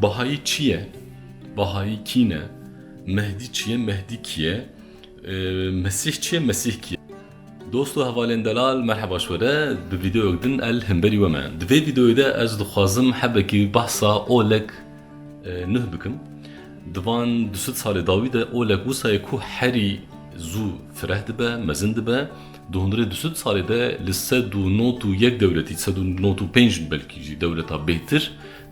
Bahayî çi ye? Bahayî kîn e? Mehdî çi ye? Mehdî kî ye? Mesîh çi ye? Mesîh kî ye? Dost û hevalên delal merheba ji we re bi vîdeoyek din el hemberî we me. Di vê vîdeoyê de ez dixwazim hebekî behsa olek Nuh bikim. Di van du sed salê dawî de Oleg wisa ye ku herî zû fireh dibe, mezin dibe. Di hundirê du sed salê de li sed û not û yek dewletî, sed û not û pênc belkî jî dewleta bêhtir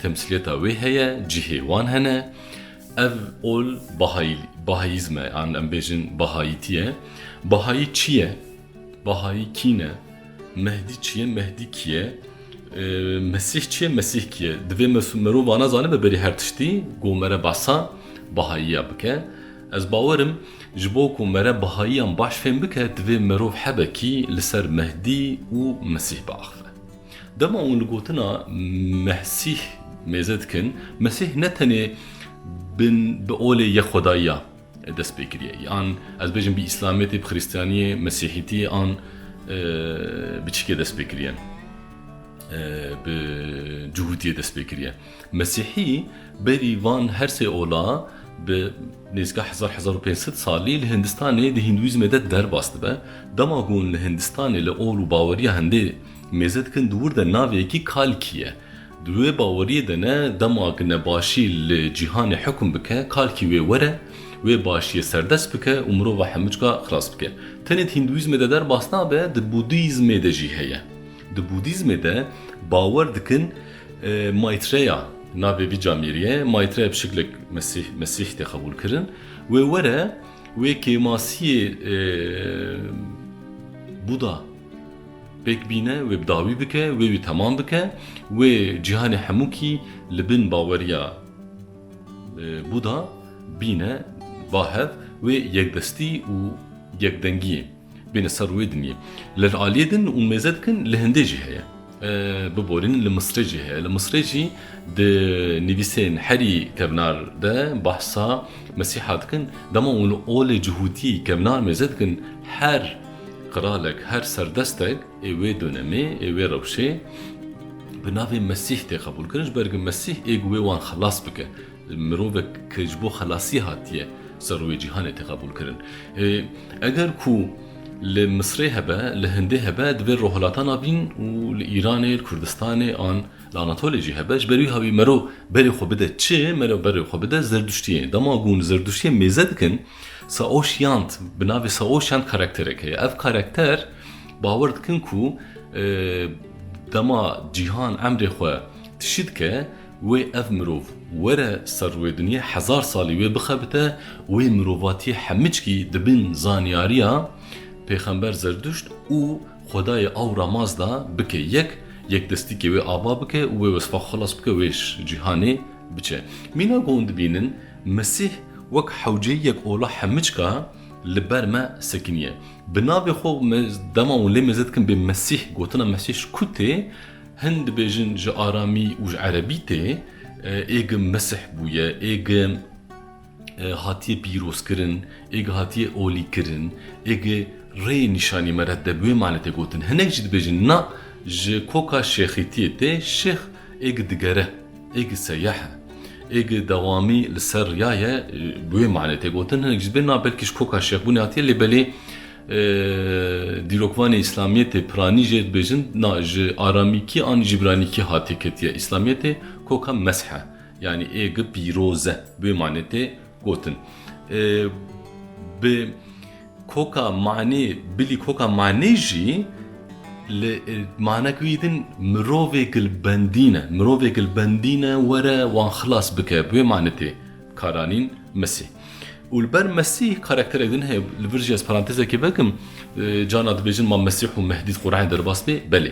temsîliyeta wê heye, cihê wan hene. Ev ol Bahayî, Bahayîzm e, yan em bêjin Bahayîtî ye. Bahayî çi ye? Bahayî kî ne? Mehdî çi ye? Mehdî kî ye? Mesîh çi ye? Mesîh kî ye? Divê merov va nezane bi berî her tiştî ku mere behsa Bahayîya bike. Ez bawer im ji bo ku mere Bahayîyan baş fêm bike divê merov hebe kî li ser Mehdî û Mesîh biaxive. Dema hûn li gotina Mehsîh mêze dikin, Mesîh ne tenê bi olê yek xwedayî ya, dest pê kiriye. Yan ez bêjim bi îslametê, bi xrîstiyaniyê, mesîhîtiyê an bi çikê dest pê kiriye? Bi cuhûtiyê dest pê kiriye. Mesîhî berî van her sê ola bi nêzîka hezar hezar û pênc sed salî li Hindistanê di hîndûîzmê de derbas dibe. Dema ku hûn li Hindistanê li ol û baweriya hindê mêze dikin di wir de navê yekî Kalkî ye. Di wê baweriyê de ne dema ku nebaşî li cîhanê hikûm bike, kalkî wê were, wê başiyê serdest bike û mirova hemûcka xilas bike. Tenê di Hîndûîzmê de derbas nabe, di Bûdîzmê de jî heye. Di Bûdîzmê de bawer dikin Maîtreya, navê vî camêriyê ye, Maîtreya bi şiklek Mesîh, Mesîh tê qebûlkirin, wê were, wê kêmasiyê Bûda. Pêk bîne wê bi dawî bike, wê wî temam bike, wê cîhanê hemûkî li bin baweriya Buda bîne ba hev, wê yekdestî û yekdengiyê bêne ser wê dinyê. Li aliyê din û mêze dikin li hindê jî heye. Biborîn li Misrê jî heye. Li Misrê jî di nivîsên herî kevnar de behsa Mesîha dikin. Dema wan olê cihûtî kevnar mêze dikin her Qralek her serdestek ê wê donemê, ê wê rewşê bi navê Mesîh tê qebûlkirin, ji ber ku Mesîh ê ku wê wan xelas bike. Mirovek ku ji bo xelasî hatiye ser rûyê cîhanê tê qebûlkirin. Eger ku li Misrê hebe, li Hindê hebe, divê li Rojhilatan a bîn û li Îranê, li Kurdistanê an li Anatolê jî hebe. Ji ber wî hawî mero berê xwe bide çi? Mero berê xwe bide zerduştiyê. Dema ku hûn zerduştiyê mêze dikin, Saoşyant, bi navê Saoşyant karakterek heye. Ev karakter bawer dikin ku dema cîhan emrê xwe tişî dike, wê ev mirov were ser rûyê dinyê, hezar salî wê bixebite, wê mirovatiyê hemickî di bin zanyariya pêxember Zerduşt û xwedayê Awra Maz de bike yek, yekdestîkê wê ava bike û wê wesfa xwe xilas bike, wê ji cîhanê biçe. Mîna ku hûn dibînin Mesîh wek hewceyiyek ola hemiçka li ber me sekiniye. Bi navê xwe me dema wan lê mêze dikin bê Mesîh, gotina Mesîh ji ku tê? Hin dibêjin ji aramî û ji erebî tê, ê gi Mesih bûye, ê gi hatiye pîrozkirin, ê gi hatiye olîkirin, ê gi rê nîşanî me re di wê manê tê gotin. Hinek jî dibêjin na ji koka şêxîtiyê tê, şêx ê gi digere. Êgî seyeh e. Êgî dewamî li ser riya ye bi wê manê tê gotin. Hinek ji bê na belkî ji koka şêxbûnê hatiye lê belê dîrokvanê îslamiyetê piranî jê dibêjin na ji aramîkî an ji îbranîkî hatiye ketiye. Îslamiyetê koka mesh e. Yanî êgî pîroz e. Bi wê manê tê Gotin bi koka manê bilî koka manê jî li manek wî din mirovê gilbendîn e. Mirovê gilbendîn e were wan xilas bike bi wê manê tê karanîn Mesîh. Û li ber Mesîh karakterek din heye li vir jî ez parantezekê vekim cana dibêjin ma Mesîh û Mehdî di Qur'anê derbas bê belê.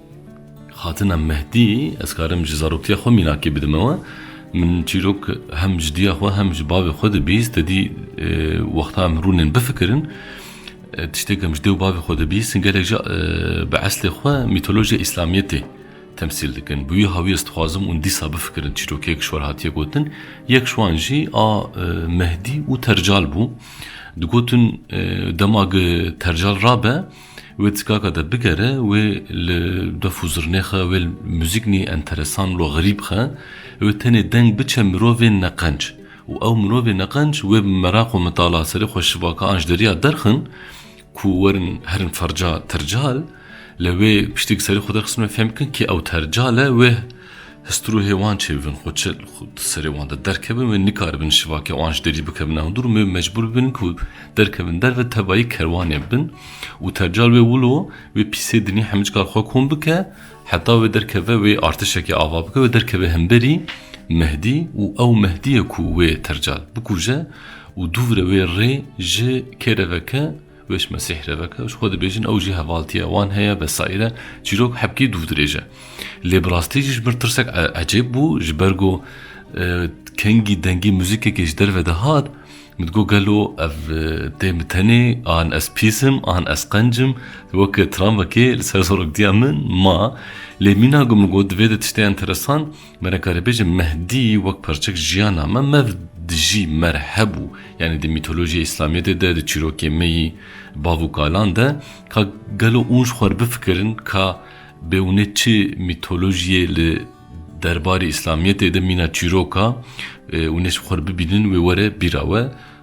Xatina Mehdî, Ez karim ji zaroktiya xwe mînakê bidim ew e. Min çîrok hem ji diya xwe hem ji bavê xwe dibîst. Tedî wexta em rûnên bifikirin, tiştê ku em ji dê û bavê xwe dibîstin gelek jî bi eslê xwe mîtolojiya îslamiyetê temsîl dikin. Bi wî hawî ez dixwazim hûn dîsa bifikirin çîrokek ji wan hatiye gotin. Yek ji wan jî a Mehdî û Tercal bû. Digotin dema ku Tercal rabe, Wê tikaka de bigere, wê li def û zirnê xe, wê li muzîknî enteresan lo xerîb xe, wê tenê deng biçe mirovên neqenc û ew mirovê neqenc wê bi meraq û mitala serê xwe şivaka an ji deriya derxin ku werin herin ferca tercal, li wê piştî ku serê xwe derxistin wê fêm bikin kê ew tercal e, wê Histrûhê wan çêbibin, xwe çi di serê wan de derkevin wê nikaribin şivakê wan ji derî bikevin hundir û wê mecbûr bibin ku derkevin derve tebayî kerwanê bibin û tercal wê wilo wê pîsê dinî hemicikar xwe kom bike heta wê derkeve wê artişekê ava bike wê derkeve hemberî Mehdî û ew Mehdîye ku wê tercal bikuje û dû vire wê rê ji kêreveke Weş Mesîh reveke ji xwe dibêjin ew jî hevaltiya wan heye vesaîre çîrok hepkî dûv dirêje. Lê bi rastî jî ji bin tirsek ecêb bû ji ber ku kengî dengî muzîkekê ji derve dihat min digot gelo ev tê min tenê an ez pîs im an ez qenc im wek tramvekê li ser soroktiya min ma lê mîna ku min got divê de tiştê enteresan Me nekarî bêjin Mehdî wek parçek jiyana me mev dijî mer hebû. Yanî di mîtolojiyê îslamiyetê de di çîrokê me yî bav û kalan de ka gelo ûnj xwe bifikirin ka bê û nê çi mîtolojiyê li derbarê îslamiyetê de mîna çîroka û nê xwe bibînin wê were bîra we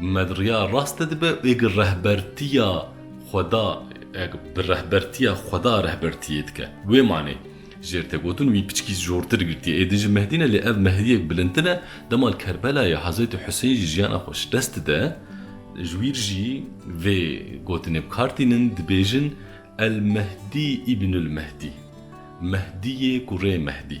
Med riya raste dibe ê gi rehbertiya Xweda eg bi rehbertiya Xweda rehbertiyê dike. Wê manê jêr tê gotin wî piçkî jortir girtiye. Ê din ji Mehdî ne lê ev Mehdiyek bilindtir e. Dema li Kerbelayê Hezretî Husên jî jiyana xwe ji dest dide ji wîr jî vê gotinê bi kar tînin dibêjin El Mehdî Îbnul Mehdî Mehdiyê kurê Mehdî.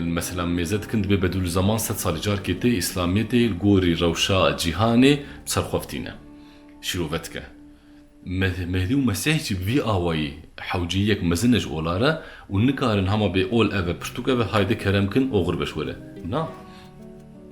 Mesela mêze dikin dibê Bedûlûzaman sed salî carkê tê Îslamîyetê li gorî rewşa cîhanê bi serxweftîne şîrove dike. Mehdî û Mesîh jî bi vî awayî hewceyîyek mezin ne ji ola re û nikarin hema bê ol ev e pirtûk ev e hayde kerem kin oxir be ji we re. Na.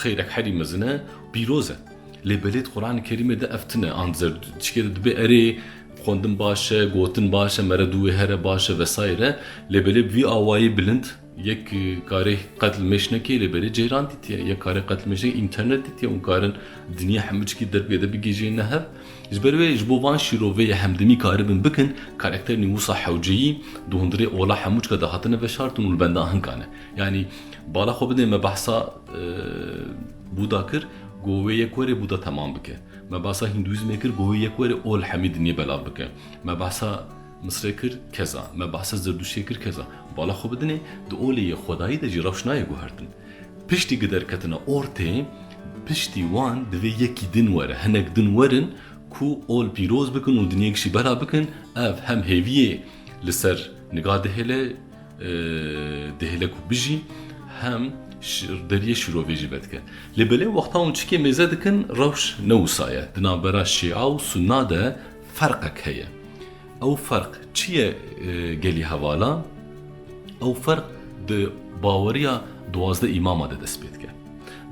Xêrek herî mezin e û pîroz e. Lê belêt Quranê Kerîmê de ev tune an zerdûtişkê de dibe erê xwendin baş e, gotin baş e, mere dû wê here baş e vesaîr e. Lê belê bi vî awayî bilind yek karê qetl mêş nekê lê belê ceyran dîtiye. Yek karê qetl mêş nekê înternet dîtiye hûn karin dinya hemûçikî dergê de bigihîjîne hev. Ji ber wê ji bo van şîroveyê hemdemî karibin bikin karakterên wisa hewceyî di hundirê ola hemûçika de hatine veşartin û li benda hinkan e. Yanî bala xwe bidê me behsa Bûda kir ku wê yek were Bûda temam bike. Me behsa Hîndûîzmê kir ku wê yek were ol hemî dinyê belav bike. Me behsa Misrê kir keza. Me behsa Zerdûştiyê kir keza. Bala xwe bidinê di olê yê xwedayî de jî rewş nayê guhertin. Piştî ku derketina ortê piştî wan divê yekî din were, hinek din werin ku ol pîroz bikin û dinyê kişî belav bikin. Ev hem hêviyê li ser niga dihêle, Dihêle ku bijî hem deriyê şîrovê jî vedike. Lê belê wexta hûn çikê mêze dikin rewş ne wisa ye. Di navbera şîa û sunna de ferqek heye. Ew ferq çi ye gelî hevala? Ew ferq di baweriya duwazdeh îmama de dest pê dike.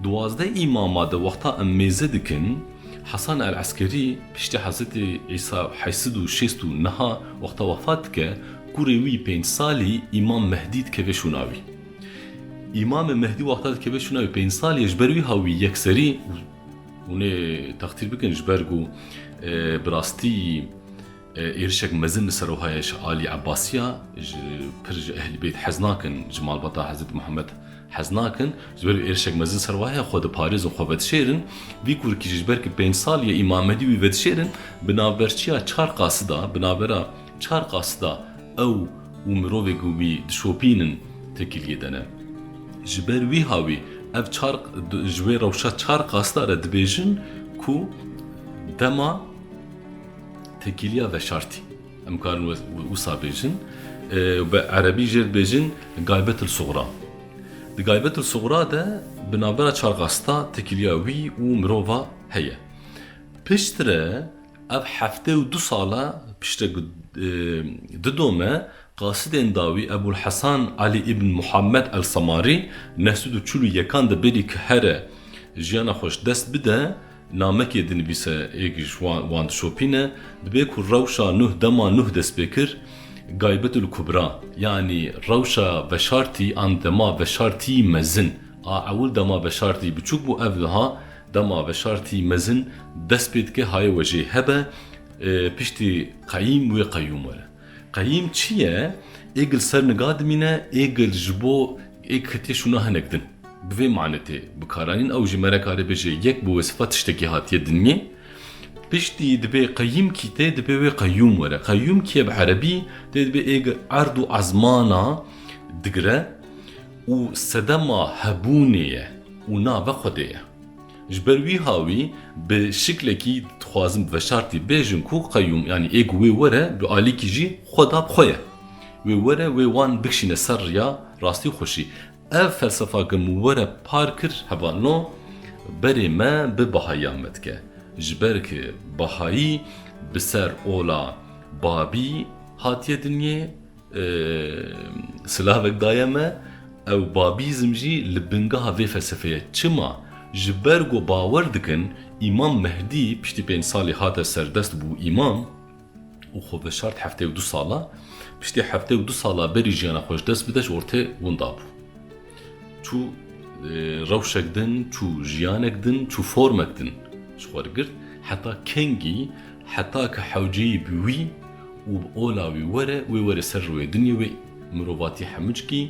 Duwazdeh îmama de wexta em mêze dikin Hesan el Eskerî piştî Hezretî Îsa heysid û şêst û niha wexta wefat dike Kurê wî pênc salî Îmam Mehdî dikeve şûna wî. Îmamê Mehdî wexta dikeve şûna wî pênc salî ye ji ber wî ha wî yekserî hûn ê textîr bikin ji ber ku bi rastî êrişek mezin li ser wiha ye ji alî Ebasî ya ji pir ji Ehlîbêt hez nakin ji malbata Hezretî Mihemed hez nakin ji ber wî êrişek mezin li ser wiha ye xwe diparêzin xwe vedişêrin. Vî kurikî jî ji ber ku pênc salî ye Îmam Mehdî wî vedişêrin bi navberçîya çar qasida bi navbera Çar qas da ew û mirovê ku wî dişopînin tekîliyê de ne. Ji ber wîha wî ev çar ji wê rewşa çar qas da re dibêjin ku dema tekîliya veşartî. Em karin wisa bêjin. Bi erebî jê dibêjin gaybetil sugra. Di gaybetil sugra de bi navbera çar qas da tekîliya wî û mirova heye. Piştre Ev heftê û du sal e piştre ku di dome qasidên dawî Ebûl Hesan Elî Îbn Muhammed El Semarî neh sed û çil û yekan de berî ku here jiyana xwe ji dest bide namekê dinivîse ê ku ji wan dişopîne dibe ku rewşa Nuh dema Nuh dest pê kir Gaybetul Kubra yanî rewşa veşartî an dema veşartî mezin a ewil dema veşartî biçûk bû ev niha Dema veşartî mezin dest pê dike haye wejê hebe piştî qeyîm wê qeyûm were. Qeyîm çi ye? Ê gil ser niga dimîne, ê gil ji bo ê ketiye şûna hinek din. Bi vê manê tê bikaranîn. Ew jî me re karê bêje yek bi wesifa tiştekî hatiye dinî. Piştî dibê qeyîm kî tê dibê wê qeyûm were. Qeyûm kî ye bi erebî tê dibê ê gil erd û ezmana digire. û sedema hebûnê ye û nave Xwedê ye. Ji ber wîha wî bi şiklekî dixwazim bi veşartî bêjim ku qeyûm yanî ê ku wê were bi alîkî jî Xweda bi xwe ye. Wê were wê wan bikişîne ser riya rastî û xweşî. Ev felsefa ke min were par kir heval no berê me bi Behayiyan me dike. Ji ber ku Behayî bi ser ola Babî hatiye dinyê, Silavek daye me, ew Babîzm jî li bingeha vê felsefê ye. Çima? Ji ber ku bawer dikin Îmam Mehdî piştî pênc salî hate serdest bû îmam û xwe veşart heftê û du sala. Piştî heftê û du sala berî jiyana xwe ji dest bide ji ortê winda bû. Çû rewşek din, çû jiyanek din, çû formek din ji xwe digirt. Heta kengî, heta ki hewceyî bi wî û bi ola wî were, wê were ser rûyê dinyê wê mirovatî hemûcikî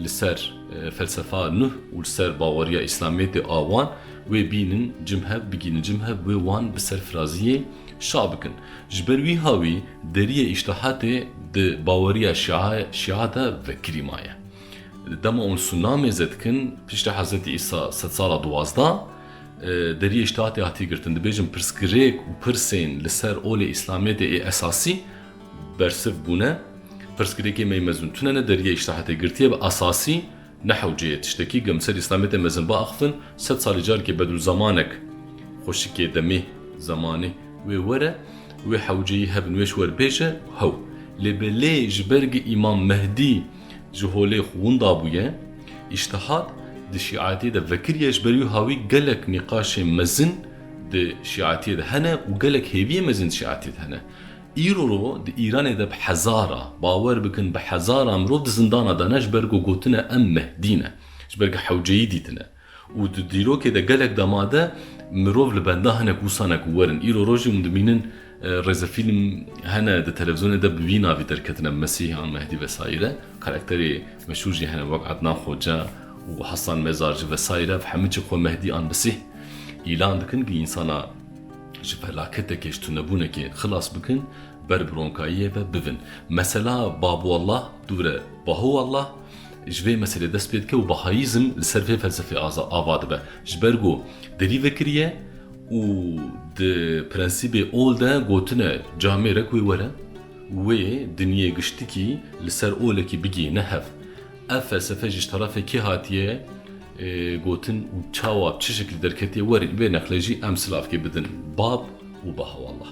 li ser felsefa Nuh û li ser baweriya Îslamiyetê a wan, wê bînin cim hev, bigînin cim hev, wê wan bi serfiraziyê şa bikin. Ji ber wîha wî deriyê îştihatê di baweriya Şia de vekirî maye. Di dema û sûnamê zedkin piştî Hezretî Îsa sed sala duwazda deriyê ştatê hatî girtin. Dibêjin pirsgirêk û pirsên li ser olê Îslamiyetê ê esasî bersiv bûne. Pirsgirêkê me yê mezin tune ne deriyê ştatê girtiye bi esasî ne hewceyê. Tiştekî gem ser Îslamiyetê mezin biaxivin sed salî carikê Bedrûzemanek xweşikê demê zemanê wê were wê hewceyî hebin wê ji wer bêje hew. Lê belê ji ber gi Îmam Mehdî Ji holê xwe winda bûye. Îştihat di şîetiyê de vekiriye ji ber wiha wî gelek nîqaşên mezin di şîetiyê de hene û gelek hêviyên mezin di şîetiyê de hene. Îro ro di Îranê de bi hezara, bawer bikin bi hezara mirov di zindana de ne ji ber ku gotine em Mehdî ne, ji ber ku hewceyî dîtine. Û di dîrokê de gelek dema de mirov li benda hinek wisa ne ku werin îro rojê hûn dimînin rêzefîlm hene di televîzyonê de bi vî navî derketine Mesîh an Mehdî vesayîre karakterê meşhûr jî hene wek Ednan Xoce û Hasan Mezarci vesayîre ev hemû jî xwe Mehdî an Mesîh îlan dikin ku însana ji felaketekê ji tunebûnekê xilas bikin ber bi ronkayiyê ve bivin. Mesela Babu Allah dûre Bahu Allah Ji vê meselê dest pê dike û Bahaîzm li ser vê felsefê ava dibe. Ji ber ku derî vekiriye û di prensîbê ol de gotine camê rek wê were û wê dinyê giştikî li ser olekî bigihîne hev. Ev felsefe jî ji tarafê kê hatiye gotin û çawa bi çi şeklî derketiye werin vê neqlê jî em silavkê bidin bab û Bahawallah.